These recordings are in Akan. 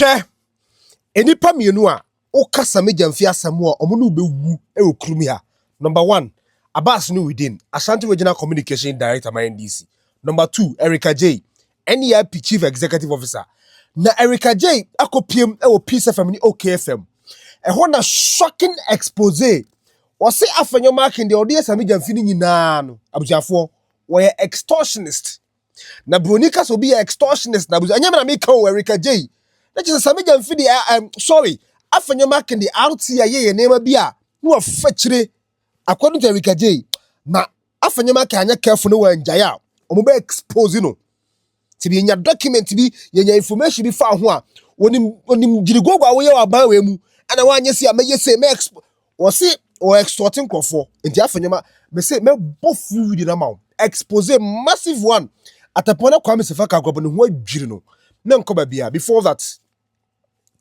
hwɛ nnipa mmienu a woka samigya mfe asɛm a wɔn ne wobɛwu wɔ kurom ha number one abas no within ashanti regional communication director ma ndc number two erika j NEIP Chief Executive Officer, na Erica Jay akɔpiem wɔ Peace FM ne OK FM. Ɛhɔ na shocking expose wɔse Afenyo Markin deɛ ɔde Asami Gyamfi no nyinaa no, abusuafoɔ, wɔyɛ extortionist. Na Broni ka sɛ obi yɛ extortionist na abusua, ɛnyɛ me na meka o, Erica Jay. Na kyerɛ sɛ Asami Gyamfi deɛ, um, sorry, Afenyo Markin deɛ RT a yɛyɛ nneɛma bi a na wafa kyire According to Erika Jay, na afanyama ka anya careful no wɔ njae a wɔn bɛ expose no. Ti bi nya document bi, yenya information bi fa ho a, onim onim jiriguogo a woyɛ wɔ aban wɔ emu. Ana wanyɛ se a mɛyɛ se mɛ exp wɔ se wɔ extort nkurɔfoɔ. Nti afanyama mɛ se mɛ bɔ full video na ma wɔn expose massive one. Atapɔn na Kwame Sefa ka agorɔbɔ ne ho adwiri no. Mɛ nkɔ baabi a before that.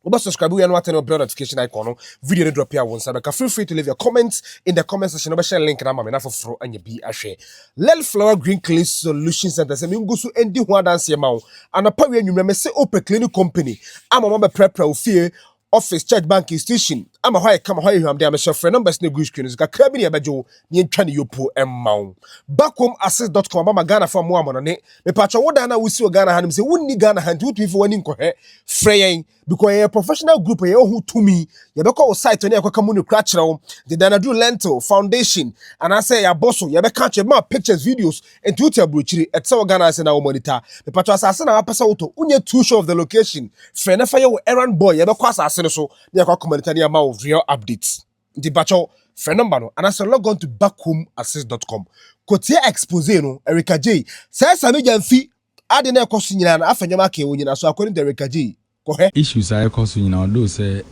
Oba subscribe we anu atene bell notification icon no video ne drop ya won sabe ka feel free to leave your comments in the comment section no be share link na mame na foforo anya bi ahwe lel flower green clay solution center se mengu so endi ho adanse ma wo anapa we anwumre me se ope cleaning company ama ma be prepare wo fie office church bank institution ama hɔ ayɛ kama hɔ ayɛ hwamde a me share frɛ numbers ne gu screen so kakra bi ne ɛbɛgye wo Yɛntwa ne yopuo mma wo. Bakom Access dot com abama Ghana fo mmoa amɔnɔne. Mepakyɛw wo dan no a wosi wɔ Ghana ha no nim sɛ wonni Ghana ha nti wotumi fa w'ani nkɔhwɛ. Frɛ yɛn because yɛyɛ professional group a yɛwɔ ho tumi. Yɛbɛkɔ wo site ne yɛakɔka mu no kura akyerɛ wo. Dedan aduru lentil, foundation, anaasɛ yɛabɔ so, yɛbɛka akyerɛ, yɛbɛma pictures, videos, nti wote aburokyire, ɛte sɛ wɔ Ghana ha sɛ na wo monitor. Mepakyɛw asase na wapɛ sɛ wotɔ, wonyɛ too sure of the location, frɛ na fa yɛ wo errand boy, yɛbɛkɔ asase no so na yɛakɔ akɔ monitor ne ama wo real updates. Nti mpakyɛw frɛ number no anaasɛ log on to backhomesist dot com kɔtie expose no Erica Jay sɛɛ saa no gya mfi ade na ɛkɔ so nyinaa na afa nneɛma akɛɛ wo nyinaa so according to Erica Jay kɔhwɛ. Issues a ɛkɔ so nyinaa although sɛ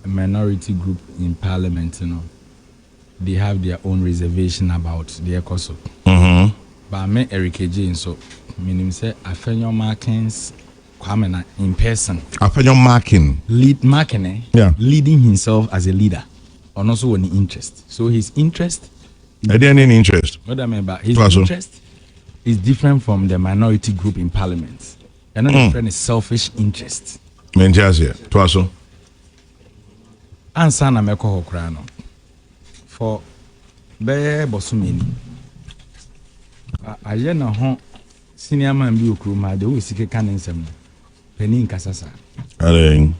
minority group in parliament no they have their own reservation about deɛ ɛkɔ so but me Erica Jay nso menim sɛ afa nneɛma akɛns. Kwame na in person. Afenyo marking. Lead marking eh yeah. Leading himself as a leader ɔno nso wɔ ne interest so his interest. Ɛdeɛ ne ne interest. Ɔda mɛ ba his interest is different from the minority group in parliament ɛno na ɛfrɛ ne selfish interest. Mɛ n ti aseɛ to aso. Ansa na mɛkɔ hɔ koraa no. for bɛyɛ bɔsome ni. Ka ayɛ na ho senior man bi wɔ kurom ha de wo sike ka ne nsɛm no. Panin nkasa saa. Adɛn?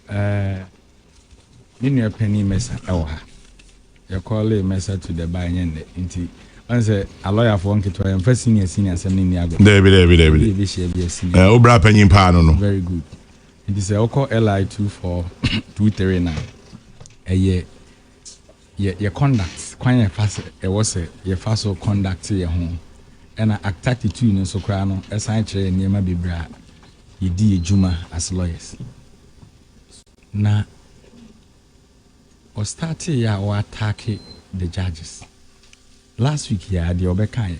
Ɛɛ, me nua panin Mesa ɛwɔ ha. Yɛkɔɔlee Mesa to the bar nyɛ nnɛ nti ɔn sɛ alɔyafoɔ nketewa yɛmfa senior senior asɛm no nni agorɔ. Daabi daabi daabi. Ebi ebehyia bi a senior. Ɛɛ, wo bra panyin paa no no. Very good. Enti sɛ wokɔ LI two four two three no a, ɛyɛ yɛ yɛ conduct kwan a ɛfa sɛ ɛwɔ sɛ yɛfa so conduct yɛ ho. Ɛna Act thirty two no nso koraa no ɛsan kyerɛ yɛn nneɛma bebree a yɛdi yɛ dwuma as lawyers. Na ɔstartee yɛ a ɔ attack the judges last week yi ara deɛ ɔbɛkaeɛ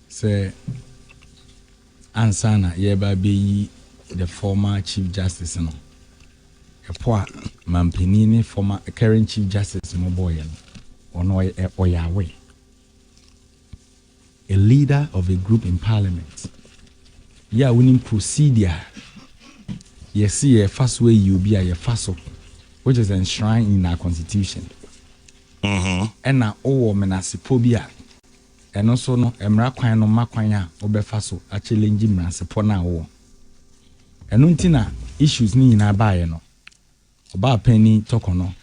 Sɛ ansa na yɛreba abɛyi the former Chief Justice no, ɛpɔ a manpanin ne former current Chief Justice no bɔeɛ no, ɔno ɔyɛ ɔyɛ aware. A leader of a group in parliament. Yɛ a wonim procedure a yɛse yɛfa so ayi obi a yɛfa so which is enshrined in our constitution. Ɛna wowɔ menasepɔ bi a Ɛno nso no mmara kwan no ma kwan a wobɛfa so a challenge mmransepɔ no a wowɔ. Ɛno nti na issues no nyinaa baeɛ no, Ɔbaapanin Tɔkɔ no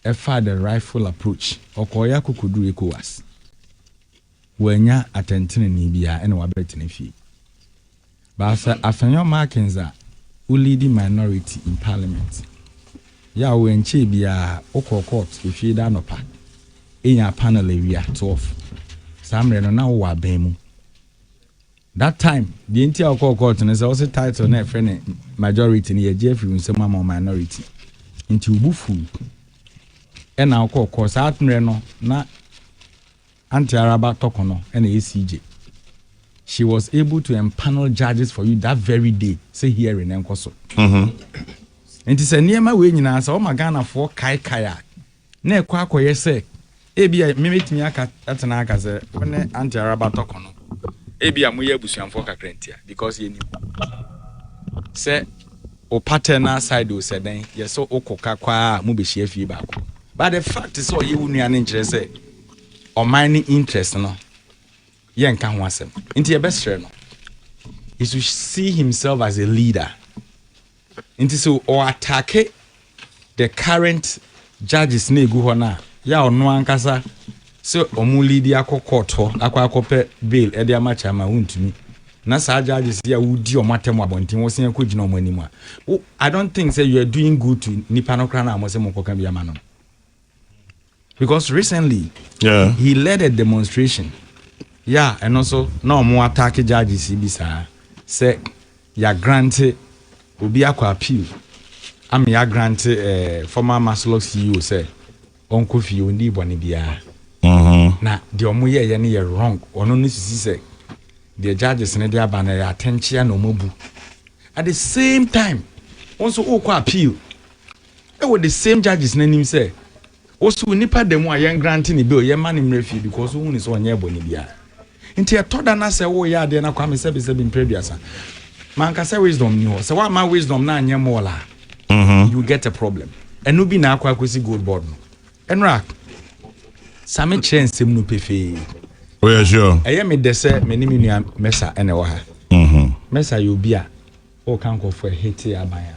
ɛfaa the rightful approach, ɔkɔeɛ akɔkɔduru Ecowas, wannya atɛntenenee biara ɛna wabɛtena fie. But sɛ Afenyo Markins a wo leadi minority in parliament, yaw ɛnkyɛɛ biaa wo kɔɔ court ɛfie da anɔpa ɛnyaa panel awia 12 saa mmerɛ no na wo wɔ aban mu that time deɛ nti a wo kɔɔ court no sɛ wo se title na ɛfrɛ ne majority no yɛgye afiri wo nsɛm ama minority nti wo bu fuu ɛna wo kɔɔ court saa mmerɛ no na Auntie Araba tɔkɔ no na ɛyɛ CJ. She was able to empanel judges for you that very day sɛ hearing no nkɔ so. Nti sɛ nneɛma wei nyinaa sɛ wɔma Ghanafoɔ kaekae a, na ɛkɔ akɔyɛ sɛ ebi a memɛtumi aka atena aka sɛ wo ne Auntie Araba tɔkɔ no ebi a moyɛ abusuamfoɔ kakra ntia because yɛnim sɛ o paternal side o sɛ dɛn yɛ sɛ wokɔ ka kɔ a mobɛhyia fie baako but the fact sɛ ɔyɛ wo nua no nkyerɛ sɛ ɔman ne interest no yɛ nka ho asɛm nti yɛbɛ srɛ no he should see himself as a leader nti so ɔ atake the current judges na egu hɔ na yɛ ɔno ankasa sɛ ɔmo lead akɔ court hɔ akɔ akɔpɛ bail ɛde ama kyama wontumi na saa judges yi a wodi wɔn atɛm wɔ abɔnten wɔ sɛn kɔ gyina wɔn anim a i don't think sɛ you are doing good to nipa no koraa na wɔn sɛ mo nkɔka bi ama no. because recently yeah. he led a demonstration yeah and also na wɔn attack judges yi bi saa sɛ ya grante obi akɔ appeal ama ya grante eh, former maslok ceo sɛ ɔnkɔ fie ɔndi bɔne biara mm-hmm. na deɛ ɔmo yɛɛyɛ no yɛ wrong ɔno no sisi sɛ deɛ judges no de aba no yɛ atɛnkyea na ɔmo abu at the same time wɔn nso wokɔ appeal ɛwɔ the same judges no anim sɛ wɔso nipa da mu a yɛn grante ne bail yɛn ma ne mmerɛ fie because wohu ne sɛ ɔnyɛ bɔne biara nti ɛtɔ da na sɛ woyɛ adeɛ na kwame sɛbi sɛbi mprɛ aduasa manka sɛ wisdom ni hɔ sɛ woama wisdom na anyɛ mɔɔl a mm-hmm. you get a problem ɛno bi na akɔ akɔsi gold board no ɛnora same kyerɛ nsɛm no pefee oyɛ oh, sure ɛyɛ me dɛ sɛ me ne me nua mɛsa ɛna ɛwɔ ha mm-hmm. mɛsa yɛ obi a ɔka nkɔfoɔ ɛhete aban a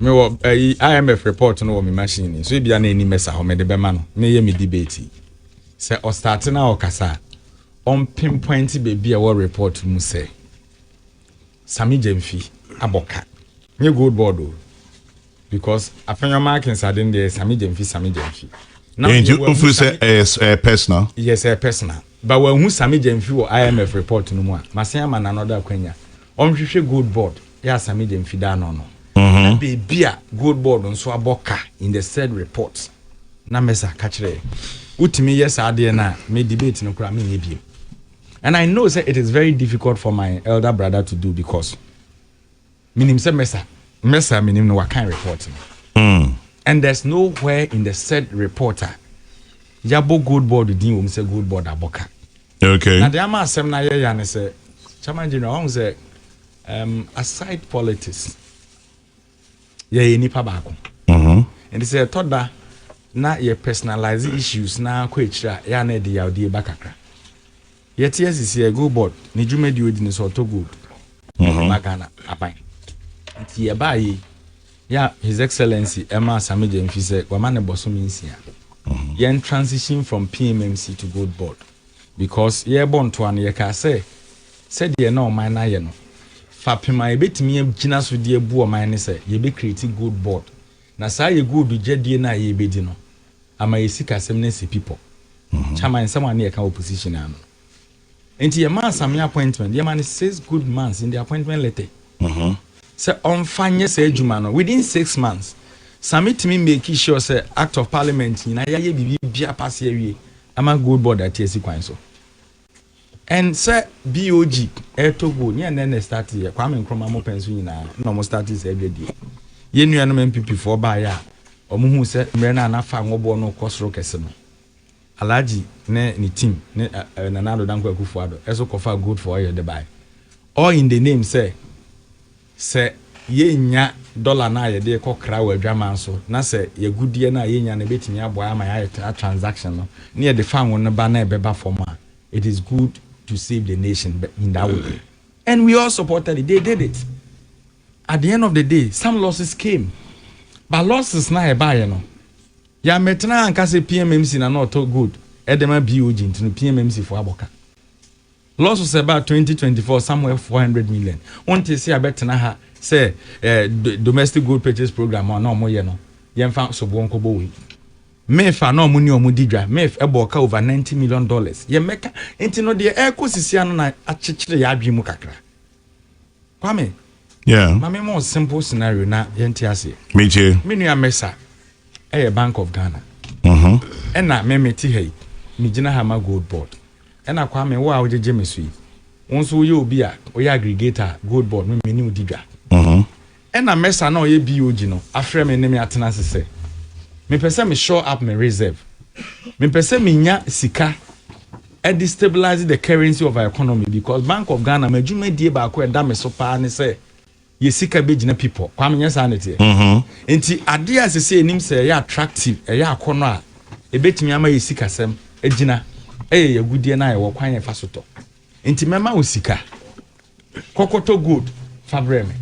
Mewɔ ayi IMF report no wɔ me machine ni so ebia na ani mɛsa hɔ mede bɛma no na ɛyɛ me debate yi. Sɛ ɔstarte na ɔkasa a, ɔmpinpointe baabi a ɛwɔ report no mu sɛ Sammy Gyamfi abɔ ka. Nyɛ gold board o because Afenyo Markins ade no deɛ Sammy Gyamfi, Sammy Gyamfi. Now Enti deɛ wɔahu wofiri sɛ Sammy, ɛyɛ s- ɛyɛ personal yes ɛyɛ personal. Ba wɔahu Sammy Gyamfi wɔ IMF report no mu a, masen ama Nana Ɔdɔ akwanya ɔnhwehwɛ gold board. yɛ asame gya mfida ano no na beebi a gold board nso abɔ ka in the said report na mesa ka kyerɛ wotumi yɛ saa adeɛ no a me debate no koraa menyɛ biem and i know sɛ it is very difficult for my elder brother to do because menim sɛ mesa mesa menim no wakan report no mm. and there's nowhere in the said report a yɛabɔ gold board din wɔm sɛ gold board abɔ ka okay. na deɛ ama asɛm no ayɛ ya ne sɛ chairman general ɔhu sɛ Um, aside politics, yɛyɛ nipa baako. Mm-hmm. And sɛ ɛtɔ da na yɛ personalize issues na akɔ akyire a yɛ ana ɛde yawdeɛ ba kakra. Yɛte asisi yɛ go board ne dwumadi odi ne sɛ ɔtɔ gold. Mm-hmm. Ba Ghana aban. Nti yɛ baa yi yɛ His Excellency ɛma Asame Gyamfi sɛ wama ne bɔsome nsia. Mm-hmm. Yɛn transition from PMMC to gold board. Because yɛrebɔ ntoa no, yɛkaa sɛ sɛdeɛ na ɔman no ayɛ no, fapem a yɛbɛtumi agyina so de abu ɔman ne sɛ yɛbɛcreate gold board, na saa yɛ gold dwadie no a yɛrebɛdi no ama yɛn sikasɛm no asi pipɔ. Chairman, nsɛm a na yɛka wɔ position no ano no, enti yɛmaa Samia appointment, yɛma no six good months in the appointment letter sɛ ɔmfa nyɛ saa adwuma no. Within six months, Sami tumi make sure sɛ Act of Parliament nyinaa, yɛayɛ biribiara pase awie. Ama gold board ate asi kwan so. And sɛ BOG ɛretɔ gold, nyɛ nnɛ na ɛstarte yɛ, Kwame Nkrumah mo pɛn so nyinaa na wɔn starte saa adwadie. Yɛn nuanom NPP foɔ baeɛ a wɔn huu sɛ mmerɛ no a na fa nwɔboɔ no rekɔ soro kɛse no, Alhaji ne ne team ne Nana Addo Dankwa Akufo-Addo ɛso kɔfaa gold for oil de baeɛ. All in the name sɛ, Sɛ yennya dɔla no a yɛde rekɔ kra wɔ adwaman so na sɛ y'agudeɛ no a yenya no bɛtumi aboa ama yɛayɛ tra transaction no na yɛde fa ngo no ba na ɛbɛba fam a, it is good to save the nation in that way. And we all supported it. They did it. At the end of the day, some losses came. But losses no a ɛbaeɛ no, yɛammɛtena anka sɛ PMMC na na ɔtɔ gold ɛde ma BOG nti no PMMC foɔ abɔ ka. Lɔso sɛ ɛbaa twenty twenty four somewhere four hundred million wonte se abɛtena ha sɛ eh, domestic gold purchase program a na ɔmo yɛ no yɛmfa soboɔ nkɔbɔ wei mef a na ɔmo ne ɔmo di dwa mef ɛbɔɔ ka over ninety million dollars yɛmmɛka nti no deɛ ɛrekɔ sisia no na akyekyere yɛ adwene mu kakra Kwame, yeah. ma me more simple scenario na yɛnte aseɛ. Metie. Me nua Mesa ɛyɛ Bank of Ghana. Mhm. Ɛna me me te ha yi, me gyina ha ma Gold Board. Ɛna Kwame wo a wogyegye me so yi, wo nso woyɛ obi a woyɛ aggregator Gold Board me me ne wo di dwa. Mhm. Ɛna Mesa no a ɔyɛ BOG no afrɛ me ne me atena ase sɛ mepɛ sɛ me shore up me reserve. Mepɛ sɛ menya sika de stabilize the currency of our economy because Bank of Ghana m'adwumadie baako a ɛda me so paa ne sɛ yɛ sika bɛgyina pipɔ. Kwame, nyɛ saa na ɛteɛ? Nti adeɛ a ɛsɛ sɛ yɛnim sɛ ɛyɛ attractive, ɛyɛ akɔnnɔ a ɛbɛtumi ama yɛ sikasɛm agyina yɛ yɛ agudeɛ no a yɛwɔ kwan a yɛfa so tɔ. Enti mɛma wo sika. Kɔkɔtɔ gold fa brɛ me.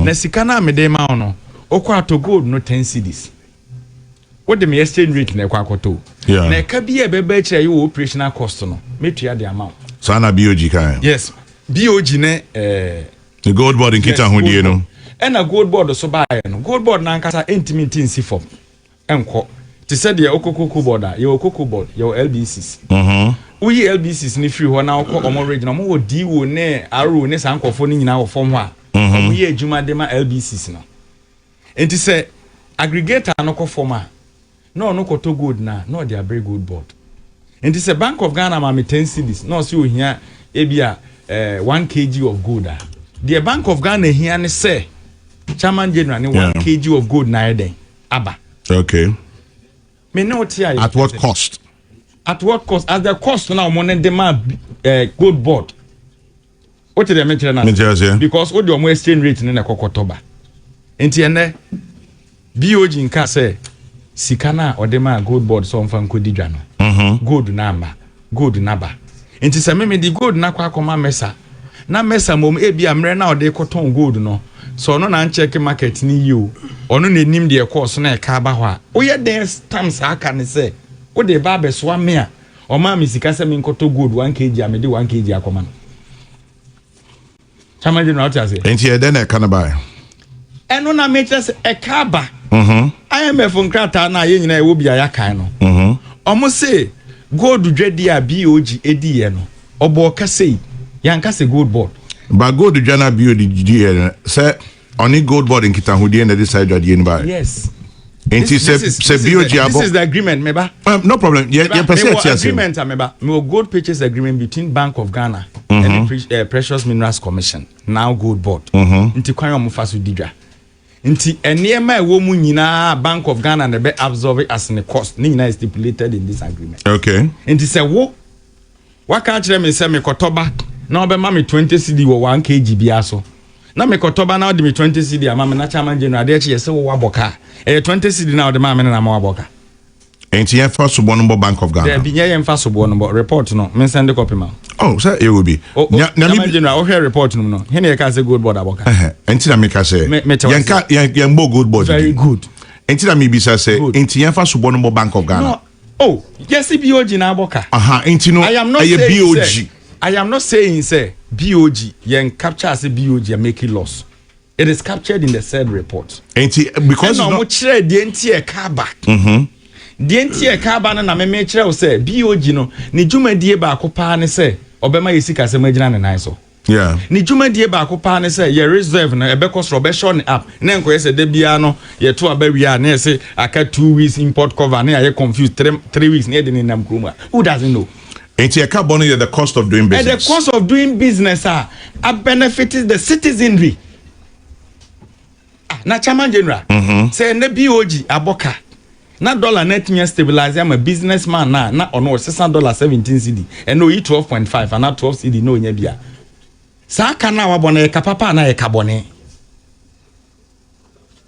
Na sika no a mede rema wo no, wokɔ atɔ gold no ten cedis. Wode me exchange rate na ɛkɔ akɔtɔ o. Na ɛka bi a ɛbɛba akyire a ɛyɛ wɔ operational cost no, mɛtua de ama wo. Saa na BOG kaeɛ. Yes, BOG ne ɛɛ. Ne gold board nkitahodie no. Ɛna gold board so baeɛ no, gold board no ankasa ntumi nte nsi fam. nkɔ te sɛ deɛ wokɔ cocoa board a yɛwɔ cocoa board yɛwɔ lbcs woyi lbcs no firi hɔ na wokɔ ɔmo ridge na ɔmo wɔ do ne ro ne saa nkorɔfoɔ no nyinaa wɔ fam hɔ a ɔmo yɛ adwuma de ma lbcs no nti sɛ aggregator no kɔ fam a na ɔno kɔtɔ gold no a na ɔde abrɛ gold board Nti sɛ bank of Ghana ma me ten cedis na ɔse ohia ebi a eh, one kg of gold a, deɛ bank of Ghana hia ne sɛ chairman general ne one kg of gold na ayɛ dɛn aba. Okay. Me ne wote ayɛ. At what cost? At what cost? At the cost na wɔn ne de ma eh, gold board. Wote deɛ mekyerɛ no ase? Mete aseɛ. Because wode wɔn exchange rate no na ɛkɔ kɔtɔ ba. Nti ɛnnɛ, BOG nkaa sɛ sika no a ɔde maa Gold Board sɛ ɔmfa nkɔdi dwa no, gold no amma. Gold no aba. Nti sɛ me mede gold no akɔ akɔma Mesa, na Mesa mmom ebia mmerɛ no a ɔde rekɔtɔn gold no, sɛ ɔno na ankyɛke market no yie o, ɔno na ɛnim deɛ ɛkɔɔ so na ɛka aba hɔ a, woyɛ dɛn tam saa ka no sɛ wode reba abɛsoa me a, Ɔmaa me sika sɛ menkɔtɔ gold one kg a mede one kg akɔma no. Chama General ɔte aseɛ. Nti ɛdɛ na ɛka no baeɛ. Ɛno na mekyerɛ sɛ ɛka aba. Mhm. IMF nkrataa no a yɛn nyinaa ɛwɔ bi a yɛakan no. Mhm. Ɔmo se gold dwadie a BOG ediiɛ no ɔbɔɔ ka sei. Yɛanka sɛ gold board. Ba gold dwa no a BOG diiɛ no sɛ. Ɔne Goldboard nkitahodie na ɛde saa adwadeɛ no baeɛ. Yes. Nti sɛ sɛ BOG abɔ. This is the agreement meba. Um, no problem. Yɛ yɛ pɛ sɛ ɛte ase. agreement a meba. Mewɔ gold purchase agreement between Bank of Ghana mm -hmm. and the uh, Precious Minerals Commission now gold board. Mm -hmm. Nti kwan ɔmo fa so di dwa. Nti nneɛma a ɛwɔ mu nyinaa Bank of Ghana na ɛbɛ absorb as ne cost ne nyinaa stipulated in this agreement. Okay. Nti sɛ wo Waka akyerɛ me sɛ mekɔtɔ ba na ɔbɛma me twenty cedi wɔ one kg biara so. Na mekɔtɔ ba na ɔde me twenty cedi ama me na Chairman General adeɛ kye yɛ sɛ wowɔ abɔ kaa. Ɛyɛ twenty cedi no a wode maa me no na ama wabɔ ka. Enti yɛmfa soboɔ no mbɔ Bank of Ghana? Daabi, nyɛ yɛmfa soboɔ no mbɔ. Report no, mensɛnde copy ma wo. Oh, sɛ yɛwɔ bi. O, o, Nya, Chairman Namibi. General, wohwɛɛ report no mu no, he na yɛkaa sɛ Gold Board abɔ ka? Ɛhɛ, enti na meka sɛ, Me- mete wo yɛnka, ase. yɛn, yɛmbɔ Gold Board Very din. good. Enti na mebisa sɛ, Good. enti yɛmfa soboɔ no mbɔ Bank of Ghana? No, Oh, yɛse BOG na abɔ ka. Aha, nti no ɛyɛ BOG. I am not saying sɛ BOG, yɛn capture sɛ BOG a making loss. It is captured in the said report. Nti because ɛna wɔn kyerɛ deɛ nti ɛka aba. Mm-hmm. Deɛ nti ɛka aba no na mɛmɛ kyerɛ wo sɛ BOG no ne dwumadie baako paa ne sɛ ɔbɛma yɛ sikasɛm agyina ne nan so. Yeah. Ne dwumadie baako paa ne sɛ yɛ reserve no ɛbɛkɔ soro ɔbɛhyɛ ne app na nkɔyɛ sɛ da biara no yɛto aba wie a na yɛse aka two weeks import cover na yɛayɛ confused three, three weeks na yɛde ne nam kurom a who doesn't know Nti ɛka bɔ no yɛ the cost of doing business. the cost of doing business a a benefit the citizenry. Ah, na Chairman General, mm-hmm. sɛ ɛnɛ BOG abɔ ka na dollar na atumi stabilize ama business man na na ɔno ɔsesa dollar seventeen cd ɛna oyi twelve point five ana twelve cd na onya bia saa ka na wabɔ na yɛ ka papa na yɛ ka bɔne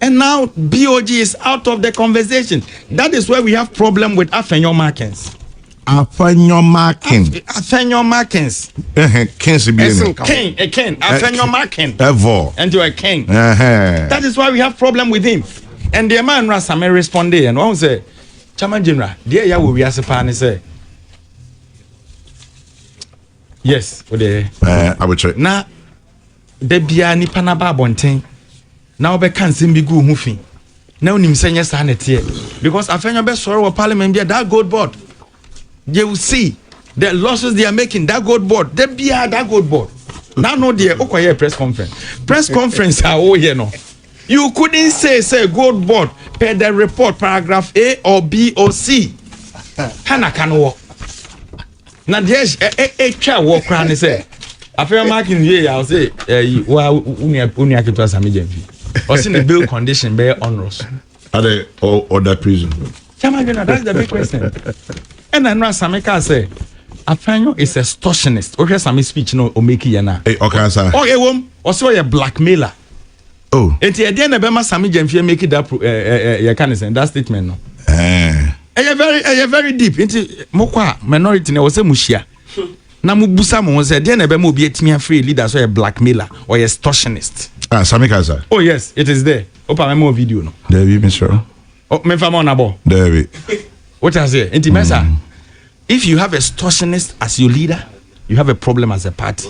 and now BOG is out of the conversation that is why we have problem with afɛnyɔ markings. Afɛnyɔmakin. Afɛnyɔmakins. Ɛhɛn, kins bi Yes, ni. Ken, a Ken, Afenyomakin. Ɛvɔ. And you're a king. Ɛhɛn. That is why we have problem with him. And the man Nura Same responded and one say, Chairman General, dear ya will wiase pan is say. Yes, o de. Ɛɛ, abotire. Na Da biara nnipa no aba abɔnten na wɔbɛka nsɛm bi gu wo ho fi na wonim sɛ nyɛ saa na ɛteɛ because afei nyɛ ɔbɛsɔre wɔ parliament bia that gold board they will see the losses they are making that gold board da biara that gold board na no deɛ wokɔyɛ press conference press conference a woyɛ no you couldn't say say gold board per the report paragraph a or b or c ha na ka no wɔ na deɛ ɛtwa wɔ koraa ne sɛ afei ɔmaaki no yie a ɔse ɛyi wa wonua ketewa same gya mfi ɔse ne bail condition bɛyɛ onros ade ɔda prison Chama Jona, that's the big question. ɛna ɛno asame kaa sɛ afanyo is a extortionist wohwɛ same speech no ɔmaki yɛ no a ɔkaa sa ɛwom ɔsɛ ɔyɛ blackmailer Oh. Eti ɛdeɛ na ɛbɛma Sami Gyamfie make that pro ɛɛ eh, ɛɛ eh, yɛka ne sɛn that statement no. Ɛɛ. Ɛyɛ very ɛyɛ very deep nti mo kɔ a minority na ɛwɔ sɛ mo hyia na mo busa mo ho sɛ ɛdeɛ na ɛbɛma obi atumi afiri leader sɛ ɔyɛ blackmailer ɔyɛ extortionist. Ah Sami Kasa. Oh yes it is there. Opa mɛma wɔ video no. Dabi misrɛ. Oh mefa ma ɔnabɔ. Dabi. Wote aseɛ nti mɛsa mm. if you have extortionist as your leader you have a problem as a party.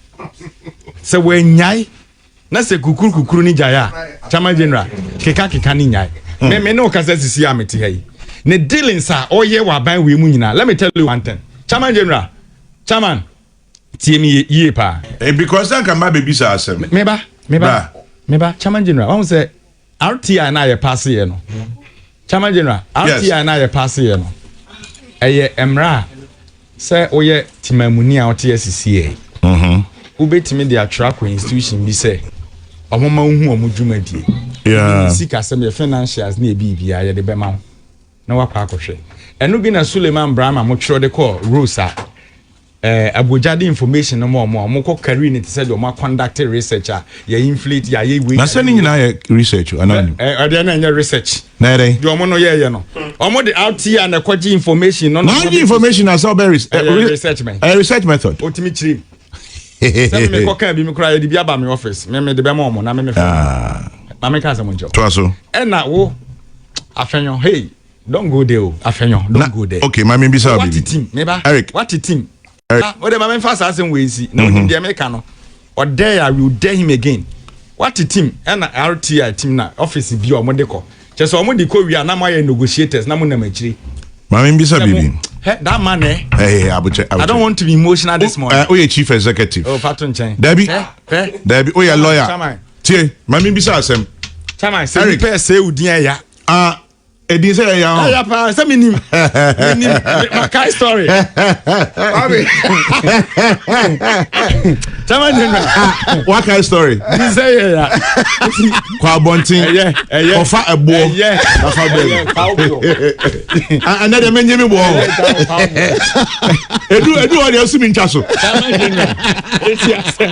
Sɛ wannyae na sɛ kukuru kukuru ne gyae a Chama General keka keka ne nyae. Hmm. Me me ne ɔkasa sisi a mete ha yi. Ne dealings a ɔyɛ wɔ aban wei mu nyinaa. Let me tell you one thing. Chama General, Chairman, tie me yie paa. Eh, because anka mma bɛbisa asɛm. Meba, meba, meba, Chama General, wahu sɛ RTI no a yɛpaaseeɛ no, Chairman General, RTI no a yɛpaaseeɛ no, ɛyɛ mmara a sɛ woyɛ temammuni a wote asi CA, mm-hmm. wobɛtumi de atwerɛ akɔ institution bi sɛ ɔmoma wohu ɔmo dwumadie. Yeah. Sikasɛm yɛ financials ne ɛbiribiara yɛde bɛma wo. na wakɔ akɔhwɛ. Ɛno bi na Suleiman Brahma mo twerɛ de kɔɔ Rose a eh, abogya de information no ma ɔmo a ɔmo kɔ carry no te sɛ deɛ ɔmo akɔndakte research a yɛ inflate yɛ ayɛ wei. Na sɛ ne nyinaa yɛ research o anaa ɔnim? Ɛ ɛ ɛdeɛ no ɛnyɛ research. Na ɛyɛ dɛn? Deɛ ɔmo no yɛɛyɛ no. Ɔmo de RTI na ɛkɔ gye information no na. Wagye information na sɛ ɔbɛ res ɛ Ɛyɛ research bɛn? Ɛyɛ research method. Ɔtumi kyerɛ mu. Sɛ me mekɔ kaa bi me koraa yɛde bi aba me office me mede bɛma ɔmo na me mefrɛ ɔmo. Ah. Maame nka asɛm nkyerɛ wo. Toa so. Ɛna wo. Afenyo, hey, don't go there o. Oh. Afenyo, don't na, go there. Okay, ma mi bisa obi. Wati team, me ba. Eric. Wati team. Eric. Ah, o de ma mi fa saa asem wei si. Na o nim deɛ mi ka no. O dare, I will dare him again. Wati team, ɛna RTI team na office bi a wɔn de kɔ. Kyɛ sɛ wɔn de kɔ wia na mo ayɛ negotiators na mo nam akyire. Ma mi bisa bibi. Hey, that man eh. Hey, hey, abuche, abuche. I don't want to be emotional this morning. Uh, oh, yeah, chief executive. Oh, fatu nkyɛn. Dabi. Eh, eh. Dabi, oh, yeah, lawyer. Tie, ma mi bisa asɛm. Chairman, sɛ nipa ɛsɛ wo din ɛya. Ah, edin sɛ ɛya hɔ. Ɛya paa, sɛ mi nim. Mi nim, ma kai story. Wabi. Chairman General. Ah, wa kai story. Din sɛ ɛya. Kɔ abɔnten. Ɛyɛ, ɛyɛ. Kɔfa ɛboɔ. Ɛyɛ. Kɔfa bɛɛbi. Ɛnɛ deɛ mɛnyɛ mi bɔɔ. Edu edu hɔ deɛ esu mi ntwa so. Chairman General. Eti asɛm.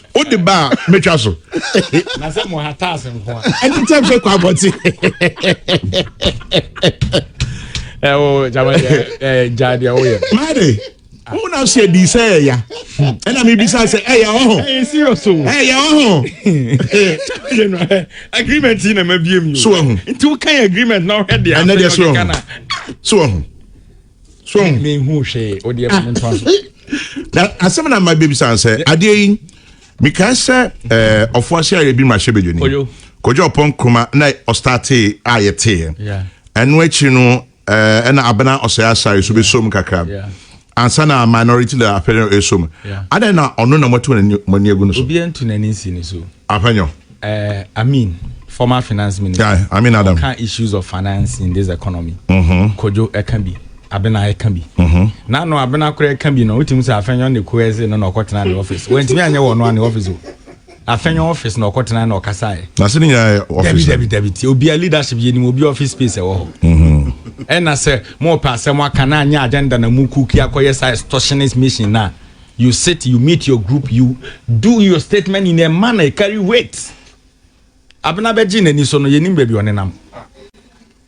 o de ba a mɛtwa so. na sɛ mo ha taas nko a. ɛne tɛm sɛ kɔ abɔte. ɛwɔ jama ɛɛ gya deɛ woyɛ. maa de wo na so adi sɛ ɛya ɛna mebisa sɛ ɛya wɔ ho ɛya wɔ ho agreement yi na mabiem so wɔ ho nti wokan agreement na wohwɛ deɛ ɛnɛ deɛ so wɔ ho so wɔ ho so ɔn mi hu hwee o deɛ fún ntoma so. na asɛm na mma bɛbi san sɛ adeɛ yi mekaa sɛ ɛɛ ɔfo ase ayɛ bi ma hyɛ bɛdwani Kojo. kɔdwa ɔpɔn nkroma na ɔstartee a yɛteeɛ Yeah. ɛno akyi no ɛɛ ɛna abena ɔsɛe asare so bɛsom kakra Yeah. ansa na minority leader apɛnyɔ ɛsom Yeah. adɛn na ɔno na moate mo ani- mo ani agu no so obiara ntu n'ani nsi ne so. apɛnyɔ Eh, Amin, former finance minister. Yeah, Amin Adam. Ɔka issues of finance in this economy. Mm -hmm. Kojo ɛka bi, Abena ɛka bi. Mm -hmm. Na no Abena kora ɛka bi no, wotumi sɛ afɛnyɔ ne ko ɛse no na ɔkɔtena ne office. Wɔntumi anyɛ wɔ no a ne office o. Afɛnyɔ office na ɔkɔtena na ɔkasa ɛ. Na se ne nyinaa yɛ office. Dabi dabi dabi ti obi a leadership yɛ nim obi office space ɛwɔ hɔ. Mhm. Ɛna sɛ mo pɛ asɛm aka na anyɛ agenda na mu kuki akɔyɛ sa extortionist mission na You sit you meet your group you do your statement in a manner it carry weight. Abena bɛgye n'ani so no yɛnim baabi ɔnenam.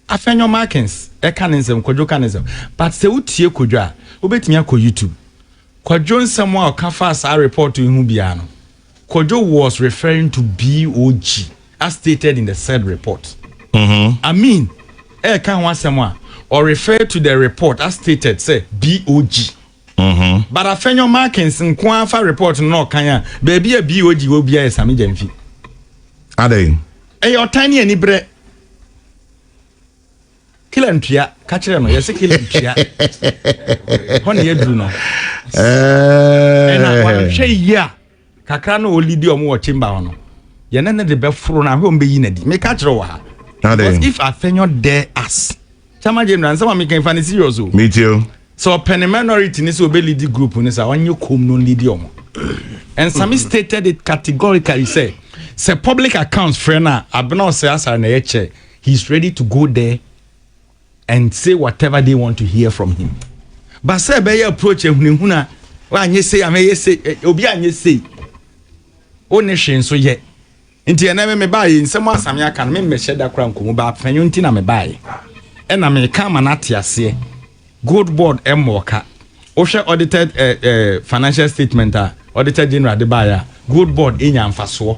Afɛnyɔ Markins ɛka ne nsɛm Kwadwo ka ne nsɛm but sɛ wotie Kwadwo a wobɛtumi akɔ YouTube. Kwadwo nsɛm a ɔka faa saa report yi ho biara no Kwadwo was referring to BOG as stated in the said report. Mm -hmm. I mean ɛka ho asɛm a ɔrefer to the report as stated sɛ BOG. But afɛnyo markings nko ara fa report no na ɔkan a, baabi a BOG wɔ biara yɛ Same Gyamfi. Adɛn? Ɛyɛ ɔtan ne aniberɛ. Killer ntua, ka kyerɛ no, yɛse killer ntua. Hɔ ne yɛduru no. Eh. Ɛna wɔhwɛ yie a. Kakra no a ɔlidi ɔmo wɔ chamber hɔ no, yɛne no de bɛforo no ahwɛ ɔmo bɛyi no adi. Meka kyerɛ wɔ ha. Because if Afenyo dare us, Chairman General, nsɛm a meka yi fa no serious o. Metie o. Sɛ ɔpɛ ne minority no sɛ ɔbɛlidi group no saa, ɔnyɛ komm na ɔnlidi ɔmo. Nsame stated it categorically sɛ, sɛ public accounts frɛ no a, Abena Ɔsɛe Asare na ɛyɛ chair, he is ready to go there. and say whatever they want to hear from him but sɛ ɛbɛyɛ approach ahunahuna wanyɛ sei amɛyɛ sei eh, obi anyɛ sei wo ne hwee nso yɛ nti ɛnɛ me mebaeɛ nsɛm asame aka no memmɛhyɛ da kora nkɔmu baa pɛnyɛ nti na mebaeɛ ɛna meka ama no ate aseɛ gold board mmɔɔ ka wohwɛ audited eh, eh, financial statement a auditor general de baeɛ a gold board ɛnya mfasoɔ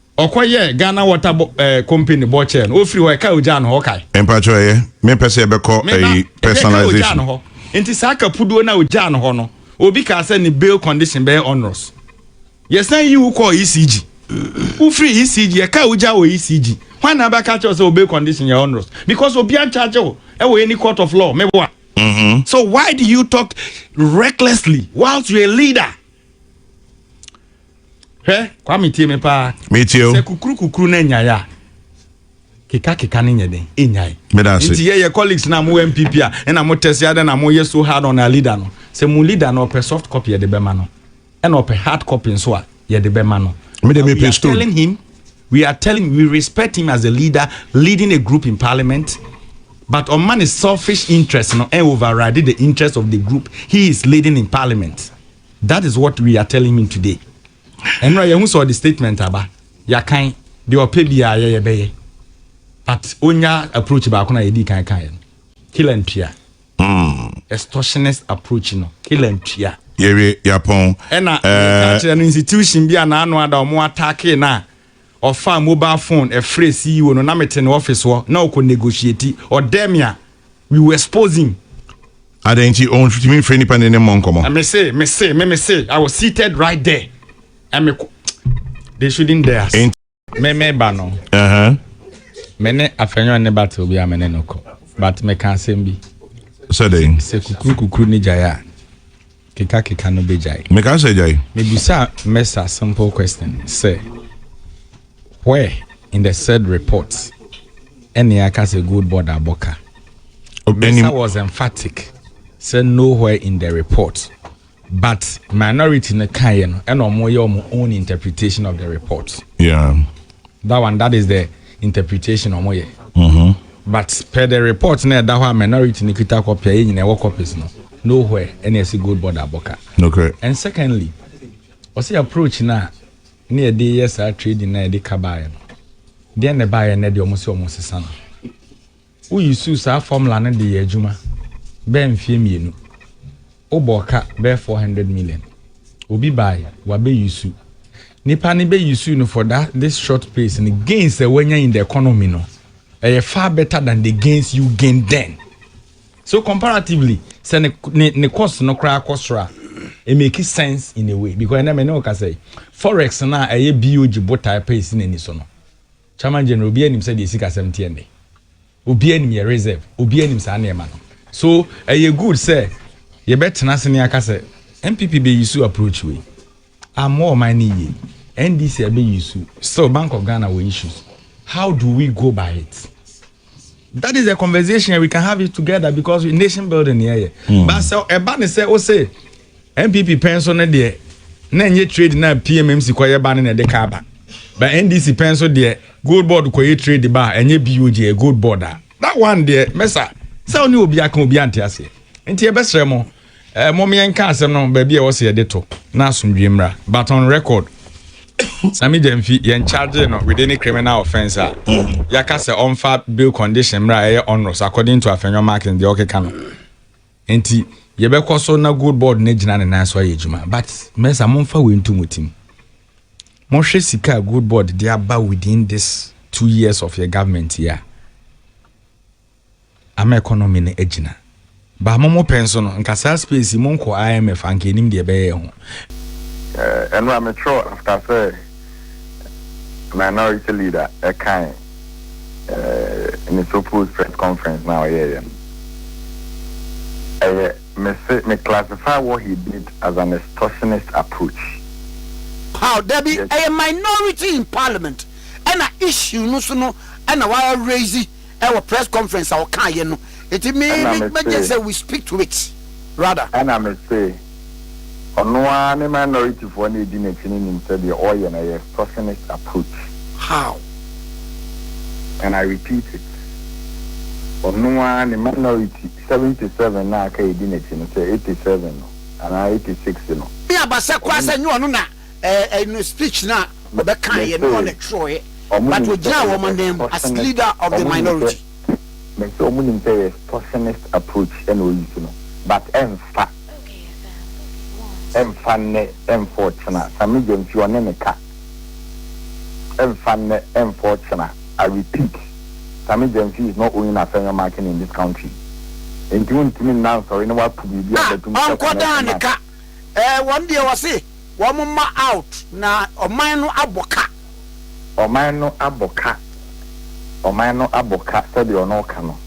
Ɔkɔ yɛɛ Ghana water bo ɛɛ company bɔ kyɛɛ no ofiri hɔ ɛkaa ogyaa no hɔ ɔkae. Mpakyɛw ɛyɛ me pɛ sɛ yɛbɛkɔ Me ba ɛyi ɛdeɛ ɛkaa ogyaa personalization. no hɔ nti saa kapuduo no a ogyaa no hɔ no obi kaa sɛ ne bail condition bɛyɛ onerous yɛsan yi wo kɔɔ ECG wofiri ECG yɛkaa ogyaa wɔ ECG hwan na abɛka akyerɛ wo sɛ wo bail condition yɛ onerous because obiara nkyagye wo ɛwɔ any court of law meboa. So why do you talk recklessly whilst you're a leader? hwɛ kwame tie me paa metie o sɛ kukuru kukuru na nyae a keka keka ne nyɛ den enyae nti yɛ yɛ colleagues na mo npp a ɛna mo tɛsi adɛ na mo yɛ so hard on our leader no sɛ mo leader no ɔpɛ soft copy yɛde bɛma no ɛna ɔpɛ hard copy nso a yɛde bɛma no we are telling him we are telling we respect him as a leader leading a group in parliament but ɔma ne selfish interest no ɛn override the interest of the group he is leading in parliament. That is what we are telling him today ɛnora yɛhu sɛ ɔde statement aba yɛakan deɛ ɔpɛ biaa yɛ yɛbɛyɛ but ɔnya approach baako na yɛdii kan kaeɛ no kill and tua Mm. extortionist approach no kill and tua yɛwie yɛapɔn ɛna ɛɛ yɛka kyerɛ no institution bi a n'ano ada ɔmo attack no a ɔfaa mobile phone ɛfrɛɛ CEO no na mete ne office hɔ na ɔkɔ negotiate ɔdɛɛ me a we will expose him. Adɛn nti ontumi mfrɛ nipa ne ne mmɔ nkɔmmɔ? Me se, me se, me me se I was seated right there and me kɔ they shouldn't dare us. Enti. Me me ba no. Ɛhɛn. Me ne Afenyo ne battle obi a me ne no kɔ but me ka asɛm bi. Sɛ dɛn? Sɛ kukuru kukuru ne gyae a. Keka keka no bɛgyae. Meka sɛ gyae. Mebisaa Mesa a simple question sɛ, Where in the said report ɛne aka sɛ gold board abɔ ka? Mesa was emphatic sɛ nowhere in the report but minority no kaeɛ no ɛna wɔyɛ wɔn own interpretation of the report. Yeah. That one, that is the interpretation ɔmo yɛ but per the report na ɛda hɔ a minority no kita copy a yɛn nyinaa yɛwɔ copies no no where ɛna ɛsi gold board abɔ ka and secondly ɔsi approach no a ne yɛde yɛ saa trading na yɛde ka baayɛ no deɛ na ɛbaayɛ na ɛde ɔmo sɛ ɔmo sesa no. Wo usuu saa formula no de yɛ adwuma bɛɛ mfeɛ mmienu, wo bɔɔ ka bɛɛ 400 million, obi bae wa bɛ usu, nipa no bɛ usu no for that this short pace no gains a wanya in the economy no ɛyɛ far better than the gains you gain then. So comparatively, sɛ ne, ne, ne cost no koraa kɔ soro a, it makes sense in a way because ɛnɛ me ne wo kasa yi, forex no a ɛyɛ BOG botae pɛ si n'ani so no, Chairman General obiara nim sɛdeɛ sikasɛm teɛ nnɛ. Obiara nim yɛ reserve, obiara nim saa nneɛma no. So ɛyɛ good sɛ yɛbɛtena ase ne aka sɛ NPP bɛ use approach wei ammɔ ɔman no yie, NDC abɛ use, still Bank of Ghana wɔ issues, how do we go by it? That is a conversation and we can have it together because we nation building yɛ yɛ. Mm. But sɛ ɛba ne sɛ ose NPP pɛn so ne deɛ na nye trade na PMMC kɔ yɛ ba ne na ɛde ka ba. But NDC pɛn so deɛ gold board kɔ yɛ trade ba a ɛnyɛ BOG yɛ gold board a. That one deɛ mɛsa sɛ ɔne obi aka obi ante aseɛ. Nti ɛbɛsrɛ mo. Eh, mom yɛnka asɛm no baabi a ɛwɔ sɛ yɛde to na asomdwie mmra. But on record, Sammy Gyamfi, yɛn charge no with any criminal offense a, mm-hmm. yɛaka sɛ ɔmfa bail condition mmra a ɛyɛ onerous according to Afenyo Martins deɛ ɔkeka no. Nti, yɛbɛkɔ so na gold board no agyina ne nan so ayɛ adwuma. But, mɛsa momfa wei nto mo tim. Mohwɛ sika a gold board de aba within this two years of your government yi a, ama economy no agyina. Ba mo mo pɛ nso no nka saa space yi monkɔ IMF anka enim deɛ ɛbɛyɛ ɛho. Eh, ɛno a me twerɛ after sɛ minority leader ɛkae eh, ne suppose press conference na ɔyɛ yɛ no. Ɛyɛ, me se, me classify what he did as an extortionist approach. Paw, dabi, ɛyɛ minority in parliament ɛna issue no so no ɛna wa raise. ɛwɔ press conference a ɔkaa yɛ no nti me me gye sɛ we speak to it rather. Ɛna me se ɔno ara ne minority foɔ na edi n'akyi no nim sɛ deɛ ɔyɛ no ɛyɛ extortionist approach. How? And I repeat it ɔno ara ne minority seventy seven no a aka edi n'akyi no sɛ eighty seven no anaa eighty six no. Me aba sɛ koraa sɛ nyɛ ɔno na. eh, you know, speech na ɔbɛkaeɛ no ɔne twerɛɛ, but ɔgyinaa wɔn anan mu as leader of the minority. Me sɛ ɔmo nim sɛ ɛyɛ sourcingist approach na ɔyi so no, but ɛnfa, ɛnfa nnɛ, ɛnfa ɔkyena, Sammy Gyamfi ɔne ne ka, ɛnfa nnɛ, ɛnfa ɔkyena, I repeat, Sammy Gyamfi is not owning Afenyo marking in this country, nti wontumi nna nsɔre na woato biribi abɛto mu sɛ connection mark. Ɛɛ wɔn deɛ wɔse wɔn mma out na ɔman no abɔ ka. Ɔman no abɔ ka, ɔman no abɔ ka sɛdeɛ ɔno ɔka no.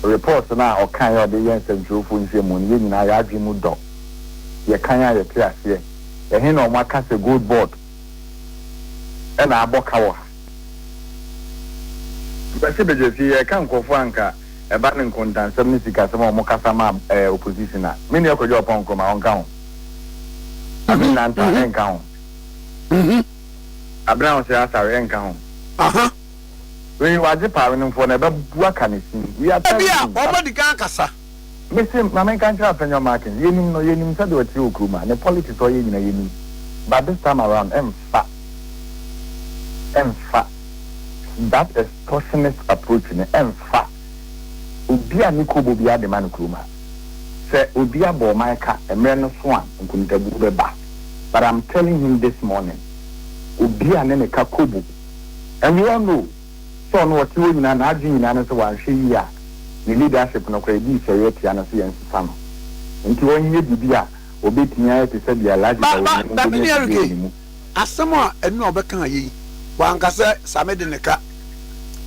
Report no a ɔkaeɛ a ɔde yɛɛ nsɛntwerɛfoɔ nhyiamu no yɛn nyinaa yɛn adwene mu dɔ. Yɛkan a yɛte aseɛ. Ɛhe na wɔaka sɛ gold board na abɔ ka wɔ ha? Kwasi Begyasi, Yɛreka nkurɔfoɔ a anka. Ɛba ne nkontansɛm ne sikasɛm a wɔn kasa ma ɛyɛ opposition a, me nua Kwadwo Ɔpɔn Nkrumah ɔnka ho. Amin Nanta ɛnka ho. Abena Ose Asare ɛnka ho. Wei wagye paa wenemfoɔ no ɛbɛbu aka ne sin. We are telling you. Ebia wɔn adi kan akasa. Me se ma menka nkyerɛ Afenyo Markins, yɛnim no, yɛnim sɛdeɛ ɔteɛ wɔ kurom ha, ne politics a ɔyɛ nyina yɛnim, but this time around ɛmfa, ɛmfa that excuse. Torsionist approach no ɛmfa obi a ne kobo biara de ma no kurom ha. Sɛ obi abɔ ɔman ka mmerɛ no so a nkontabuo bɛba. But I'm telling him this morning, obi a ne ne ka kobo and we all know sɛ ɔno ɔte hɔ nyinaa n'adwene nyinaa ne sɛ wanhwɛ yie a ne leadership no koraa ɛdii sɔeɛ atia no sɛ yɛnsesa no. Nti ɔnyɛ biribi a ɔbɛtumi ayɛ te sɛ deɛ Alhaji Dawonya no bɛnya biribi wɔ ne mu. Asɛm a ɛno na ɔbɛkaa yɛ yi. Wanka sɛ, Same de ne ka.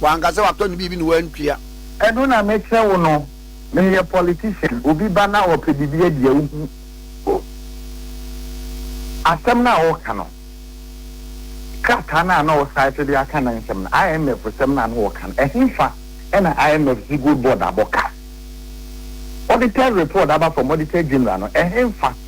Wanka sɛ, Watɔ ne biribi na wantua. Ɛno na mekyerɛ wo no. Meyɛ politician, obi ba na ɔpɛ biribi adi a, wohu o. Asɛm no a ɔreka no, krataa no a na ɔsaete de aka ne nsɛm no, IMF sɛm no a na ɔreka no, ɛhefa na IMF Siegel Board abɔ ka? Auditor's report aba from Auditor General no, ɛhefa?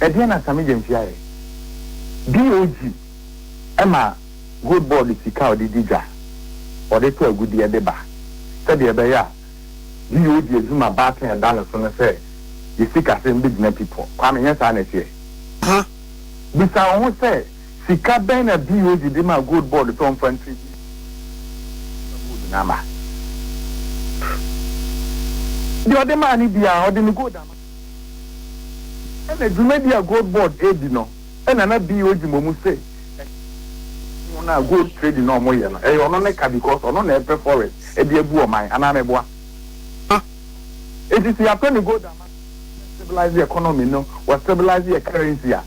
Ɛdeɛn na Sammy Gyamfi ayɛ? DOG ma Gold Board sika a ɔde di dwa, ɔde tɔ agudeɛ de ba sɛdeɛ ɛbɛyɛ a DOG adwuma baako a ɛda ne so ne sɛ yɛ sikasɛm bɛgyina pi pɔ. Kwame, ɛnyɛ saa na ɛteɛ? Hã? Bisa wo ho sɛ, sika bɛn na DOG de maa Gold Board sɛ ɔmfa ntiri bi mfa gold no ama? Deɛ ɔde maa no biara, ɔde ne gold ama. Ɛna dwumadi a Gold Board redi no na na BO gye mmɔ mu se ɛnyɛ wɔn a gold trading na wɔn yɛ no ɛyɛ ɔno ne ka because ɔno na ɛpɛ forest de abu ɔman anaa meboa ma esisi yɛatɔ ne gold ama no stabilize economy no wɔ stabilize yɛ currency a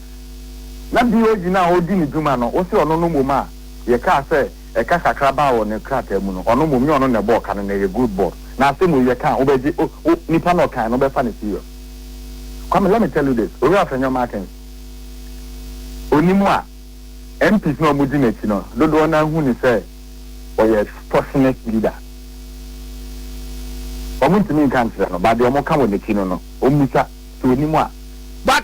na BO gyina a ɔredi ne dwuma no wose ɔno no mmom a yɛkaa sɛ Ɛka kakra baa wɔ ne krataa mu no, ɔno mmom nyɛ ɔno na ɛbɔɔ ka no, na ɛyɛ Good Board. Na asɛm wei yɛka a, wobɛgye, o, o, nipa na ɔkae no, wobɛfa no serious. Kwame, let me tell you this, Owura Afenyo Martins, ɔnim a, MPs no a wɔdi n'akyi no, dodoɔ no ara hu no sɛ ɔyɛ extortionist leader. Wɔntumi nka nkyerɛ no, but deɛ wɔka wɔ n'akyi no no, wɔmmisa sɛ ɔnim a. But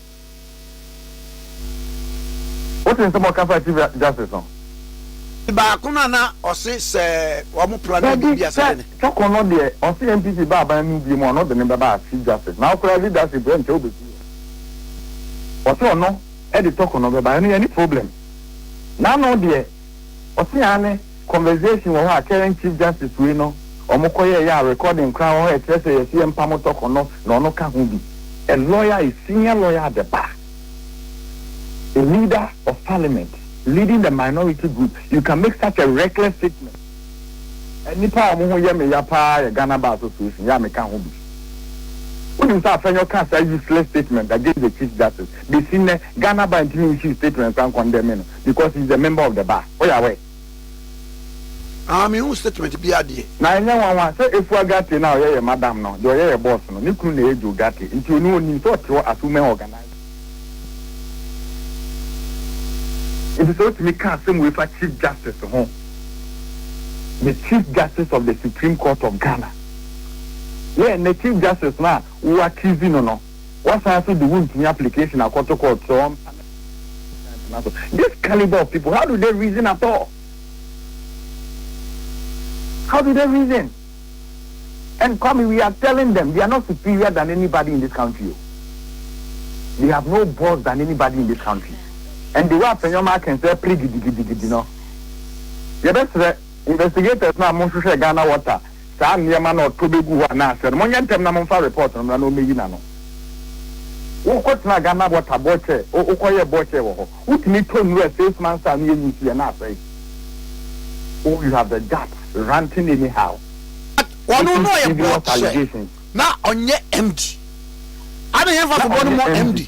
Wote nsɛm a ɔka faa chief justice ho? Ti baako no a na ɔse sɛ wɔn pra no adi bia sɛde ne. Dabi sɛ twɔko no deɛ ɔse NPP ba aban no mu bio mu a ɔno de no bɛba as chief justice na ɔkora leadership hɔ nkyɛ wobɛsi hɔ ɔse ɔno de twɔko no bɛba ɛno yɛnni problem na ano deɛ Ɔse aane, conversation wɔ hɔ a current chief justice wei no ɔmo kɔ yɛɛyɛ a recording koraa wɔ hɔ a ɛkyerɛ sɛ yɛse yɛmpa mo tɔkɔ no na ɔno ka ho bi. A lawyer is senior lawyer at the bar, a leader of parliament, leading the minority group, you can make such a reckless statement. Nnipa a ɔmo ho yɛ me ya paa yɛ Ghana Bar Association yɛ a me ka ho bi. Wonim sɛ Afenyo kaa saa useless statement against the chief justice, besi nnɛ Ghana Bar ntumi nhyii statement san condemning no. Because he's a member of the bar. Woyɛ aware? Ah, menhuu statement biara deɛ. Na ɛnyɛ nwanwa sɛ Efua Gate no a ɔyɛ yɛn madam no, deɛ ɔyɛ yɛn boss no, ne kunu na ɛyɛ Joe Gate, nti ɔno ɔnim sɛ ɔte hɔ as women organiser. Nti sɛ wotumi ka asɛm wei fa Chief Justice ho, the Chief Justice of the Supreme Court of Ghana, na ɛnnɛ Chief Justice no a wo accuse no no, Wasan nso de wontumi application akɔto court sɛ ɔmpa ne ba ntena so. This caliber of people, how do they reason at all? How do they reason? And Kwame, we are telling them they are not superior than anybody in this country. Oh. They have no balls than anybody in this country. And the way Afenyoma can say, pray gidi gidi gidi no. Yɛbɛsrɛ investigators na mo nhwehwɛ Ghana water saa nneɛma no a ɔtɔ bɛgu hɔ anaa sɛ no, monyɛ ntɛm na momfa report no mmra na ɔmmɛyi n'ano. Wokɔtenaa Ghana water bɔkyɛ, wokɔyɛɛ bɔkyɛ wɔ hɔ, wotumi tɔ nwura six months a ano yɛ nwi nsuiɛ na asɛe wo, you have the guts ranting anyhow. But ɔno na ɔyɛ bɔkyɛ na ɔnyɛ MD. Ade hemfa to bɔ no mɔ MD?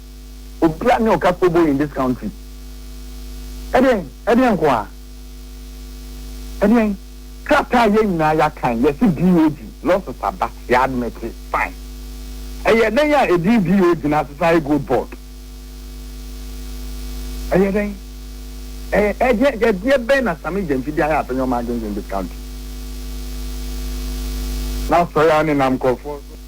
Obia ne ɔka kobo in this country. Ɛdeɛn? Ɛdeɛn nkoaa? Ɛdeɛn? Krataa a yɛn nyinaa yɛakan, yɛse BOG, losses aba, yɛ admete, fine. Ɛyɛ dɛn a ɛdin BOG no asesa ayɛ Gold Board? Ɛyɛ dɛn? Ɛyɛ ɛdeɛn? Ɛdeɛ bɛn na Sammy Gyamfi de ayɛ asɛnnwom ma adwendwen this country? N'asɔre ara nenam nkorɔfoɔ so.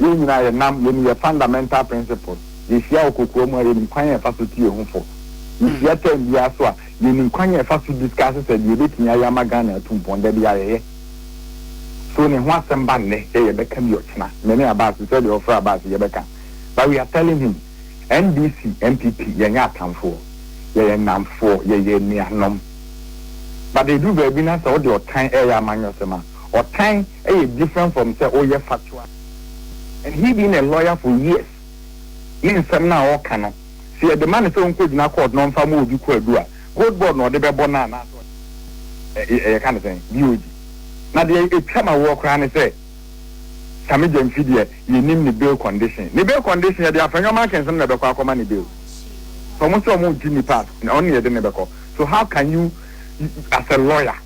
Yɛn nyinaa yɛnam, yenim yɛn fundamental principles, yehyia wɔ kokoa mu a, yenim kwan a yɛfa so tu yɛn ho fo, yehyia term biara nso a, yenim kwan a yɛfa so discuss sɛ deɛ yɛbɛtumi ayɛ ama Ghana atu mpɔn, da biara yɛyɛ. So ne ho asɛm ba nnɛ sɛ yɛbɛka bi ɔkyena, me ne Abass, te sɛ deɛ wɔfrɛ Abass yi, yɛbɛka. But we are telling him, NDC, NPP, yɛnyɛ atamfoɔ, yɛyɛ nnamfoɔ, yɛyɛ anuanom. But ɛduru baabi na sɛ wode ɔtan reyɛ amanyɔsɛm a, ɔtan, yɛ different from sɛ woyɛ factual and he being a lawyer for years ne nsɛm no a ɔreka no sɛ yɛde ma no sɛ ɔnkɔgyina court na ɔmfa ma obi kɔ adu a gold board na ɔde bɛbɔ no anaasɛ ɔde ɛ yɛka no sɛn BOG na deɛ ɛtwa ma woɔ koraa ne sɛ Same Gyamfi deɛ yɛnim ne bail condition ne bail condition yɛde Afenyo Markensm na ɛbɛkɔ akɔma ne bail sɛ ɔmo sɛ ɔmo ntu nnipa a ɔno na yɛde no bɛkɔ so how can you as a lawyer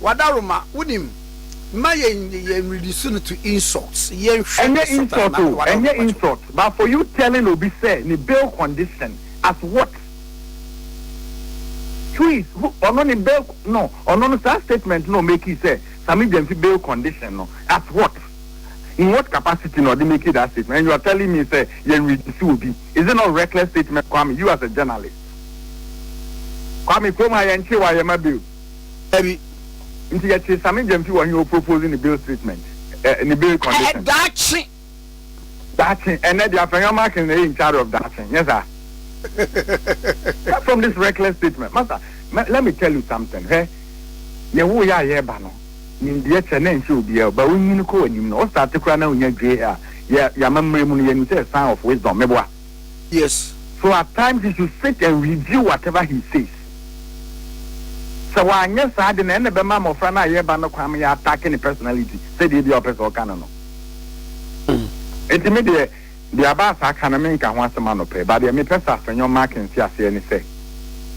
Wadaroma, wunim, mma yɛnnye yɛn nnidiso no to insult, yɛnhwɛ Ɛnyɛ Satan insult na o, Wadaroma ɛnyɛ gye wo. insult, but for you telling obi sɛ ne bail condition as what? Please, wo, ɔno ne bail, no, ɔno no saa statement no a ɔmakii sɛ Sammy Gyamfi bail condition no, as what? In what capacity na ɔde makii that statement? And you are telling me sɛ yɛnredisse obi, is it not reckless statement Kwame, you as a journalist? Kwame, kurom ha yɛnkyee wo a yɛma bail. Dabi. Nti yɛtee Sammy Gyamfi wɔ he o propose ne bail statement eh ne bail condition. Eh daakye. Daakye ɛnɛ deɛ Afenyo Markins na ɛyɛ in charge of daakye nyɛ saa? Apart from this reckless statement masa let me tell you something hwɛ yɛwoo yɛ a yɛɛba no nimdeɛ kyɛ na ɛnhyɛ obiara o but wonyini kɔ w'anim no wo starte koraa na wonya dwee a yɛ yɛ amammerɛ mu no yɛnim sɛ ɛyɛ sign of wisdom meboa Yes. So at times you should sit and review whatever he says. Sɛ wanyɛ saa de na ɛna ɛbɛma mmɔfra no a yɛreba no kwan ma yɛatake ne personality sɛdeɛ bi a ɔpɛ sɛ ɔka no no. Enti me deɛ, deɛ Abaasa aka no menka ho asɛm anɔpa yi, but deɛ mepɛ sɛ Afenyo Mark nte aseɛ ne sɛ,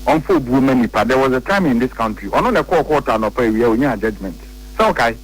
ɔmfa obuo ma nnipa. There was a time in this country, ɔno na ɛkɔɔ kɔɔto anɔpa awia ɔnyaa judgement. Sɛ wokae?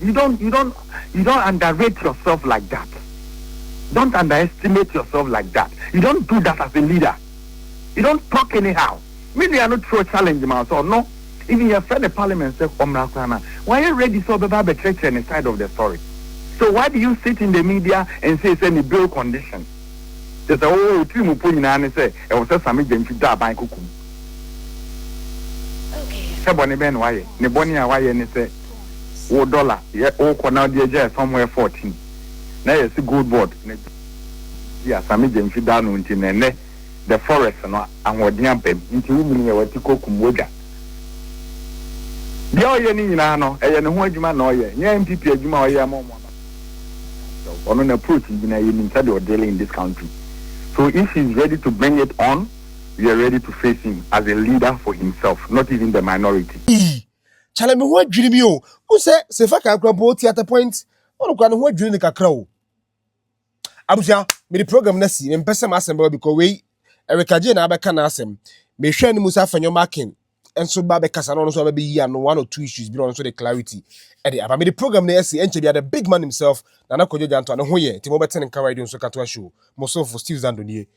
You don't you don't you don't underrate yourself like that. Don't underestimate yourself like that. You don't do that as a leader. You don't talk anyhow. Me nua no throw challenge ma so no. Even your friend the parliament said omra krana. Why you ready so beba be church and side of the story? So why do you sit in the media and say say ni bail condition? They say oh tiri mu po nyina ne say e wo say same gentry da ban kokum. Okay. Sɛ bɔne bɛn na wayɛ? Ne bɔne a wayɛ ne sɛ wo dɔla yɛ wokɔ na wode agyae somewhere fourteen na yɛse gold board na gya bi a same gya mfi da no nti na ɛnɛ the forest no ahoɔden aba mu nti wo mini yɛ wati kɔ kum wodwa deɛ ɔyɛ ne nyinaa no ɛyɛ ne ho adwuma na ɔyɛ nyɛ MPP adwuma a ɔyɛ ama ɔmo aba ɔno na approach nyinaa yɛnim sɛdeɛ ɔdele in this country so if he is ready to bring it on we are ready to face him as a leader for himself not even the minority. Chale me ho adwiri mi o. Mo sɛ sɛ fa kakra mpo ti at a point ɔno kora ne ho adwiri ne kakra o. Abusua me de program na si me mpɛ sɛ m'asɛm bɛba because wei Erika Jane na abɛka n'asɛm. Me hwɛ ne mu sɛ afɛnyɔ makin nso ba bɛkasa na ɔno nso abɛyi ano one or two issues bi na ɔno nso de clarity ɛde aba. Me de program na ɛsi ɛnkyɛ bi the big man himself Nana Kwadwo Gyantoa ne ho yɛ nti mo bɛte ne nka radio nso katoa show mo somfo Steve Zando nie.